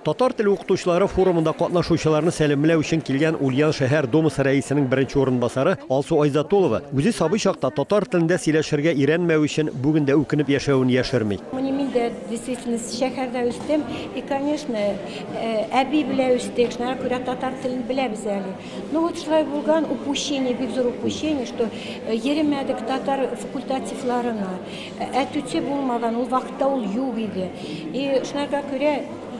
Татар теле укытучылары форумында катнашучыларны сәламләү өчен килгән Ульян шәһәр Думасы рәисенең беренче урынбасары Алсу Айзатулова үзе сабый чакта татар телендә сөйләшергә өйрәнмәве өчен бүген дә үкенеп яшәвен яшерми. Менә мин дә действительно шәһәрдә үстем и, конечно, әби белән үстек, шуңа күрә татар телен беләбез әле. Ну вот шулай булган упущение, бик зур упущение, что йөремәдек татар факультативларына. Ә түти булмаган ул вакытта ул юк иде. И шунарга күрә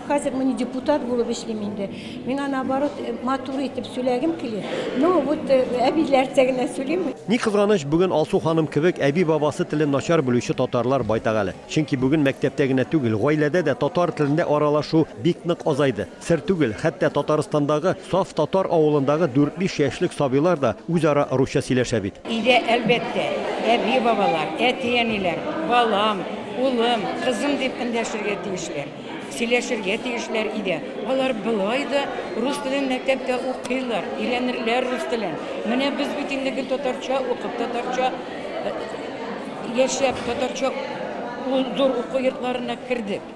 хәзер мин депутат булып эшлим инде. Миңа наоборот э, матур итеп сөйләгем килә. Ну вот э, әбиләрчә генә сөйлим. Ни кызганыч, бүген Алсу ханым кебек әби-бабасы телен начар белүче татарлар байтак әле. Чөнки бүген мәктәптә генә түгел, гаиләдә дә татар телендә аралашу бик нык азайды. Сер түгел, хәтта Татарстандагы саф татар авылындагы дүрт-биш яшьлек сабыйлар да үзара русча сөйләшә бит. Өйдә, әлбәттә, әби-бабалар, әти-әниләр, балам, улым, кызым дип эндәшергә тиешләр. Сөйләшергә тиешләр өйдә. Алар болай да рус телен мәктәптә укыйлар, өйрәнерләр рус телен. Менә без бит инде гел татарча укып, татарча яшәп, татарча зур уку йортларына кердек.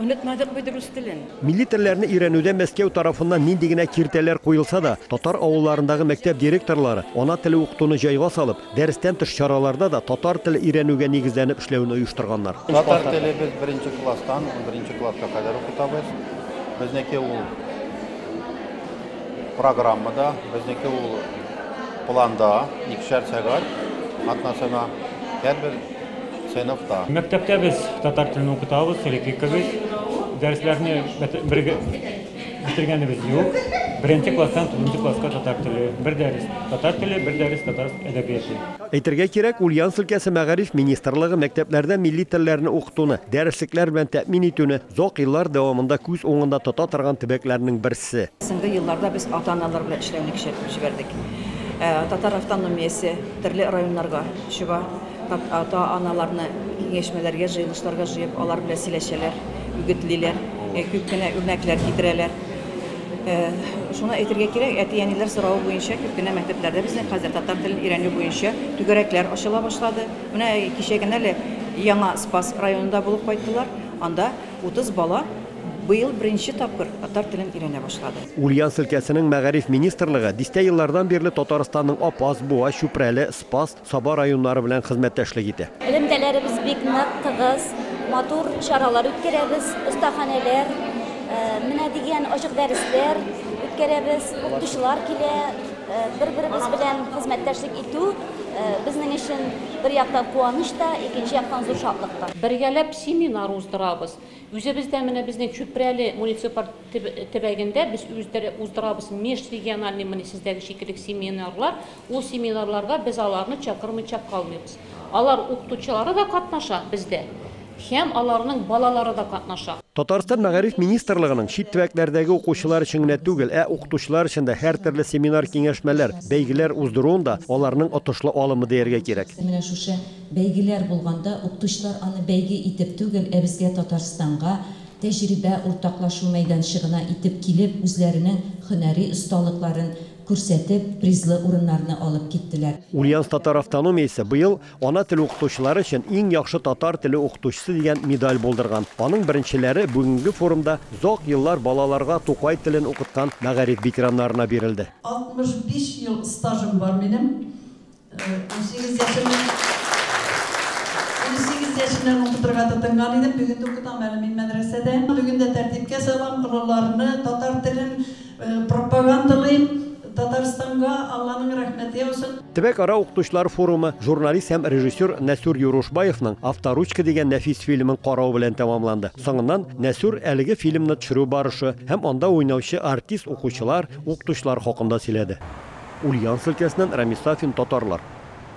Онытмадык бит рус телен. Милли телләрне өйрәнүдә Мәскәү тарафыннан нинди генә киртәләр куелса да, татар авылларындагы мәктәп директорлары, ана теле укытуны җайга салып, дәрестән тыш чараларда да татар теле өйрәнүгә нигезләнеп эшләүне оештырганнар. Татар теле без беренче класстан унберенче класска кадәр укытабыз. Безнеке ул программада, безнеке ул планда, икешәр сәгать атнасына һәрбер сыйныфта. Мәктәптә без татар телен укытабыз, Рефикович. Дәресләрне бетергәнебез юк. Беренче класстан тугызынчы класска татар теле. Бер дәрес татар теле, бер дәрес татар әдәбияты. Әйтергә кирәк, Ульяновск өлкәсе мәгариф министрлыгы мәктәпләрдә милли телләрне укытуны, дәреслекләр белән тәэмин итүне озак еллар дәвамында күз уңында тота торган төбәкләрнең берсе. Соңгы елларда без ата-аналар белән эшләүне көчәйтеп җибәрдек. Татар автономиясе төрле районнарга чыга. Ата-аналарны киңәшмәләргә, җыелышларга җыеп, алар белән сөйләшәләр, үгетлиләр, күп кенә үрнәкләр китерәләр. Шуны әйтергә кирәк, әти-әниләр соравы буенча күп кенә мәктәпләрдә безнең хәзер татар телен өйрәнү буенча түгәрәкләр ачыла башлады. Менә кичә генә әле Яңа Спас районында булып кайттылар. Анда 30 бала быел беренче тапкыр татар телен өйрәнә башлады. Ульяновск өлкәсенең мәгариф министрлыгы дистә еллардан бирле Татарстанның Апас, Буа, Чүпрәле, Спас, Саба районнары белән хезмәттәшлек итә. Элемтәләребез бик нык, тыгыз, матур чаралар үткәрәбез. Остаханәләр, менә дигән ачык дәресләр үткәрәбез. Укытучылар килә. Бер-беребез белән хезмәттәшлек итү безнең өчен бер яктан куаныч та, икенче яктан зур шатлык та. Бергәләп семинар уздырабыз. Үзебездә менә безнең Чүпрәле муниципаль төбәгендә без үздерә уздырабыз межрегиональный менә сездәге шикелле семинарлар. Ул семинарларга без аларны чакырмыйча калмыйбыз. Алар укытучылары да катнаша бездә һәм аларның балалары да катнаша. Татарстан Мәгариф министрлыгының чит төбәкләрдәге укучылар өчен генә түгел, ә укытучылар өчен дә һәртөрле семинар-киңәшмәләр, бәйгеләр уздыруын да аларның отышлы алымы дияргә кирәк. Менә шушы бәйгеләр булганда, укытучылар аны бәйге итеп түгел, ә безгә, Татарстанга, тәҗрибә уртаклашу мәйданчыгына итеп килеп, үзләренең һөнәри осталыкларын, күрсәтеп, призлы урыннарны алып киттеләр. Ульяновск татар автономиясе быел Ана теле укытучылары өчен иң яхшы татар теле укытучысы дигән медаль булдырган. Аның беренчеләре бүгенге форумда озак еллар балаларга Тукай телен укыткан мәгариф ветераннарына бирелде. 65 ел стажым бар минем. Унсигез яшемнән Унсигез яшемнән укытырга тотынган идем, бүген дә укытам әле мин мәдрәсәдә. Бүген дә тәртипкә салам, олыларны, татар телен пропагандалыйм. Татарстанга Алланың рәхмәте яусын. Төбәкара укытучылар форумы журналист һәм режиссер Нәсүр Юрушбаевның Авторучка дигән нәфис фильмын карау белән тәмамланды. Соңыннан Нәсүр әлеге фильмны төшерү барышы һәм анда уйнаучы артист, укучылар, Укытучылар хакында сөйләде. Ульяновск өлкәсеннән Рамис Сафин татарлар.